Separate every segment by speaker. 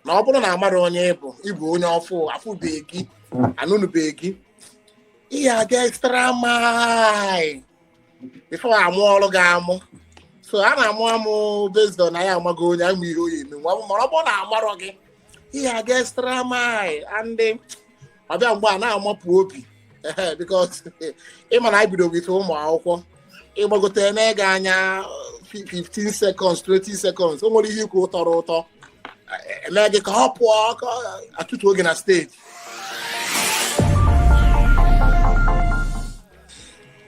Speaker 1: na ọ bụrụ na amarọ onye ịbụ ịbụ onye ọfụụ afụbeghị gị anụnụbeghị gị ị ya-aga extra mile before amụọrọ gị amụ so a na-amụ amụ based on anyị amago onye a ma ihe ọ ya-eme nwa mara ọ bụrụ na amarọ gị ị ya-aga extra mile and ọ bịa mgbe a na-amapụ obi ehe because ịma na anyị bido with ụmụ akwụkwọ ịgbagote enee gị anya 15 seconds 20 seconds o nwere ihe ikwu tọrọ ụtọ eme gị ka ọ pụọ ka ọ- atụfu oge na steji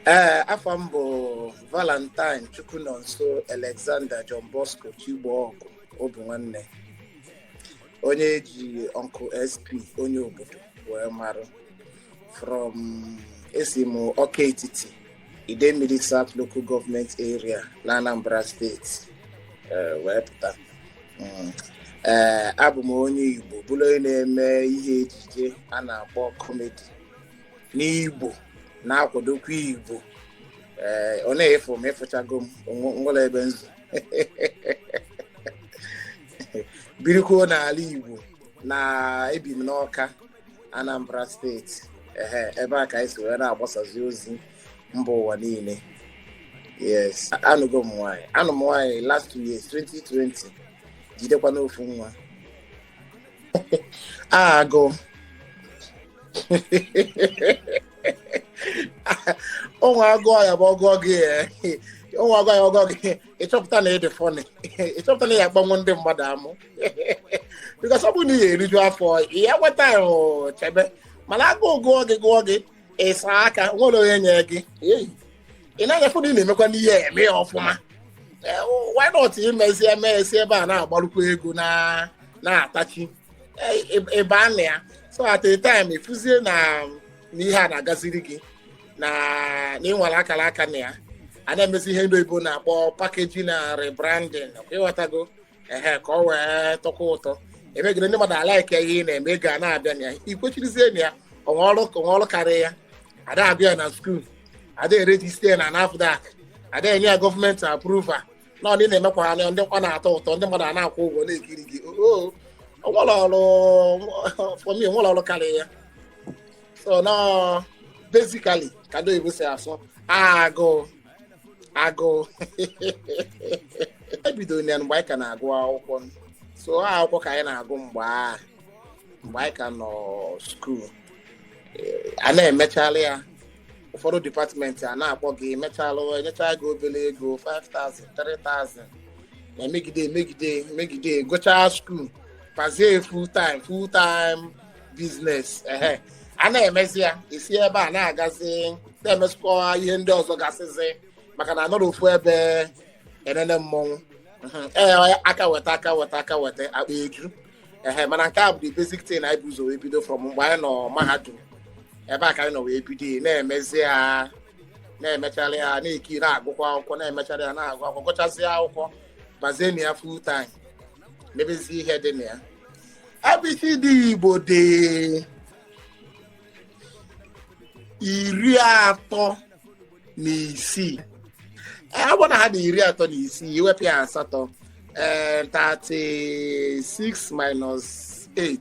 Speaker 1: ee afa m bụ valentine chukwunonso alexander john bosco chigbogu obinwanne onye eji uncle sp onye obodo wee marụ from esi m ọka etiti idemili south local government area na anambra steeti eh, wee pụta Mm. Eh, abụ m onye igbo bụrụ onye na-eme ihe ejije a na-akpọ kọmedi n'igbo na-akwadokwa igbo ee ọ na ịfụ m ịfụchago m onwe- nwerọ ebe nzu birikwuo n'ala Igbo na ebi m n'Ọka Anambra steeti ehe ebe a ka anyị si wee na-agbasazi ozi mba ụwa niile yes anụgo m nwaanyị anụ m nwaanyị last two years 2020 jidekwa n'ofu nwa agụụ nwa agụọ ya bụ ọgụọ gị nwa agụọ ya ọgụọ gị ịchọpụta na ịdị funny ịchọpụta na ị ya-akpanwu ndị mmadụ amụ because ọ bụrụ na ị ga-eriju afọ ya enwe time chebe mana agụụ gụọ gị gụọ gị ịsaa aka nwerọ onye nye gị ị na-anyafụ na ị na-emekwanụ ihe eme ya ọfụma eh, why not imezi eme esi ebe a na-agbarụkwa ego na-atachi ebe eh, a na ya so at a time ịfụzie na ihe a na-agaziri gị na ịnwere akara aka na ya a na-emezi ihe ndị oyibo na-akpọ packaging na rebranding ọkwa ịghọtago ehe ka ọ wee tọkwa ụtọ emegide ndị mmadụ alaike ihe ị na-eme ego a na-abịa na ya ikwechirizie na ya onwerọ ọrụ ka onwerọ ọrụ karịa ya ada amụ ya na school ada eregister na nafdac ada enye ya government approval na ọdị na-emekwa ihe ndị nwa na-atọ ụtọ ndị mmadụ a na-akwụ ụgwọ na-ekiri gị oo onwerọ ọrụ for me onwerọ ọrụ karịa ya so na basically ka ndị oyibo si asụ agụụ agụụ ebidoro ya mgbe anyị ka na-agụ akwụkwọ so ọ akwụkwọ ka anyị na-agụ mgbe a mgbe anyị ka nọ skuul a na-emechala ya ụfọdụ dipatmenti a na-akpọ gị emechala enyecha gị obele ego 5000 3000 na-emegide emegide emegide gụchaa skuul bazie full time full time biznes ehe a na-emezi ya e si ebe a na-agazi na-emezikwa ihe ndị ọzọ gasịzi maka na anọrọ ofu ebe enene mmọnwụ Mhm. ee ọ ya, aka weta aka weta aka weta akpa eju ehe mana nke a bụ the basic thing anyị bu ụzọ wee bido from mgbe anyị nọ mahadum ebe a ka anyị nọ wee bido ya, na-emezi ya na-emecharị ya na-eki na-agụkwa akwụkwọ na-emecharị ya na-agụ akwụkwọ gụchazie akwụkwọ bazie na ya full time mebezi ihe dị na ya abcd igbo dị iri atọ na isii ọ bụrụ na ha dị iri atọ na isii i wepụ ya asatọ ee 36 minus 8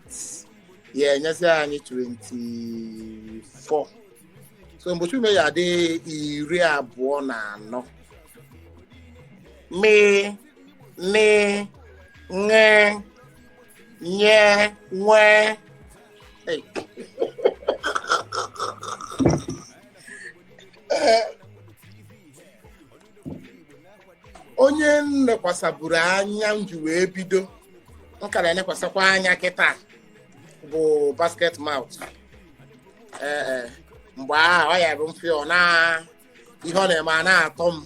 Speaker 1: ya enyezi anyị 24 so mgbochiume ya dị iri abụọ na anọ mee ni nge nye nwe hey. onye m nekwasaburu anya m ji wee bido m ka na-enekwasakwa anya kịta bụ basket mouth ee mgbe ahụ ọ ya bụ ife ọ na ihe ọ na-eme a na-atọ m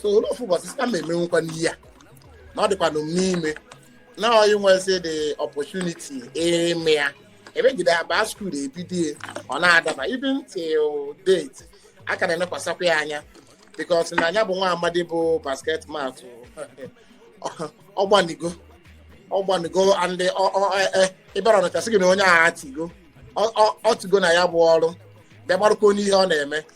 Speaker 1: so o lu ofu ụbọchị sị ka m emenwukwanụ ihe a na ọ dịkwanụ m n'ime na ọ inwezi the opportunity ime ya emegide ya baa skuul ebido ya ọ na-adaba even till date a ka na-emekwasakwa ya anya because na nya bụ nwa amadi bụ basket mouth ọ gbanigo ọ gbanigo and ọ- ọ- e- e- ị bịara ọnịcha sị gị na onye a etigo ọ- ọ- o tigo na ya bụ ọrụ bịa gbarụkwa n'ihe ọ na-eme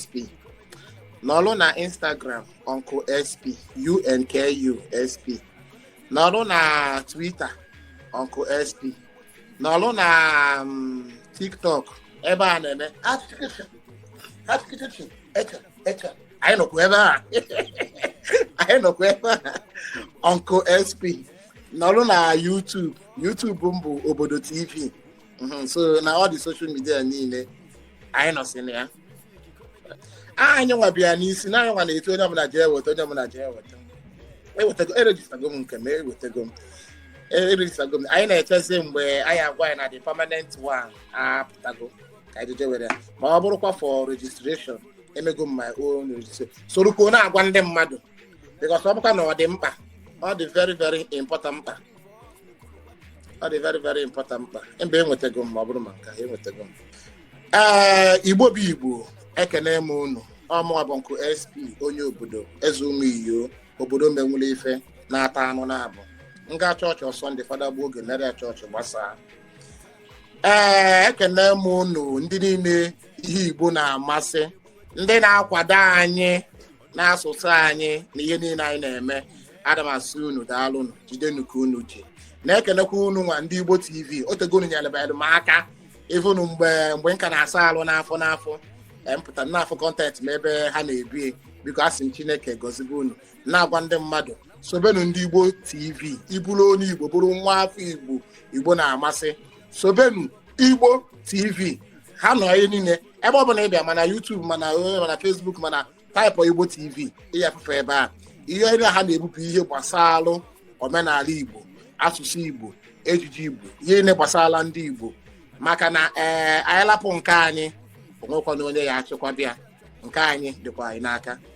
Speaker 1: sp nọrụ na instagram uncle sp uncle sp nọrụ na twitter uncle sp nọrụ na mm, tiktok ebe a na-eme application application echa echa anyị nọkwa ebe a anyị nọkwa ebe a uncle sp nọrụ na youtube youtube m bụ obodo tv mhm, so na all the social media niile anyị nọsị na ya anyị nwa bịa n'isi na anyị nwa na-etu onye ọbụla jee weta onye ọbụla jee weta ewetago erejistago m nke m ewetago m erejistago m anyị na-echezi mgbe a ya-agwa anyị na the permanent one apụtago ka anyị jee were ya ma ọ bụrụkwa for registration emego m my own registration sorokwa na-agwa ndị mmadụ because ọ bụkwa na ọ dị mkpa ọ dị very very important mkpa ọ dị very very important mkpa mba enwetago m ma ọ bụrụ ma nke enwetago m ee eh, Igbo bụ Igbo ekene m unu ọ mụwa bụ Uncle SP onye obodo eze ụmụ iyo obodo menwụrụ ife na-ata anụ na-abụ m gaa chọọchị on Sunday fada gbuo oge mere chọọchị gbasaa ee eh, ekene m unu ndị niile ihe Igbo na-amasị ndị na-akwado anyị n'asụsụ anyị na ihe niile anyị na-eme ana m asị unu daalụnụ jidenu ka unu ji na-ekelekwa unu nwa ndị Igbo TV o tego unu nyelebelu m aka even mgbe mgbe m ka na-asa alụ n'afọ n'afọ mpụta n'afọ content m ebe ha na-ebie biko asị m Chineke gọzibe unu na-agwa ndị mmadụ sobenụ ndị Igbo TV ị bụrụ onye Igbo bụrụ nwa afọ Igbo Igbo na-amasị sobenụ Igbo TV ha nọ n'ihe niile ebe ọ bụla ị bịa ma na YouTube ma na eh, ma na Facebook ma na type Igbo TV ị ya-afụ fa ebe a ihe ndị ha na-ebupụ ihe gbasalụ omenala Igbo asụsụ Igbo ejiji Igbo ihe niile gbasara ndị Igbo maka na ee eh, anyị lapụ nke anyị o nwekwana onye ya-achịkwaba ya nke anyị dịkwa anyị n'aka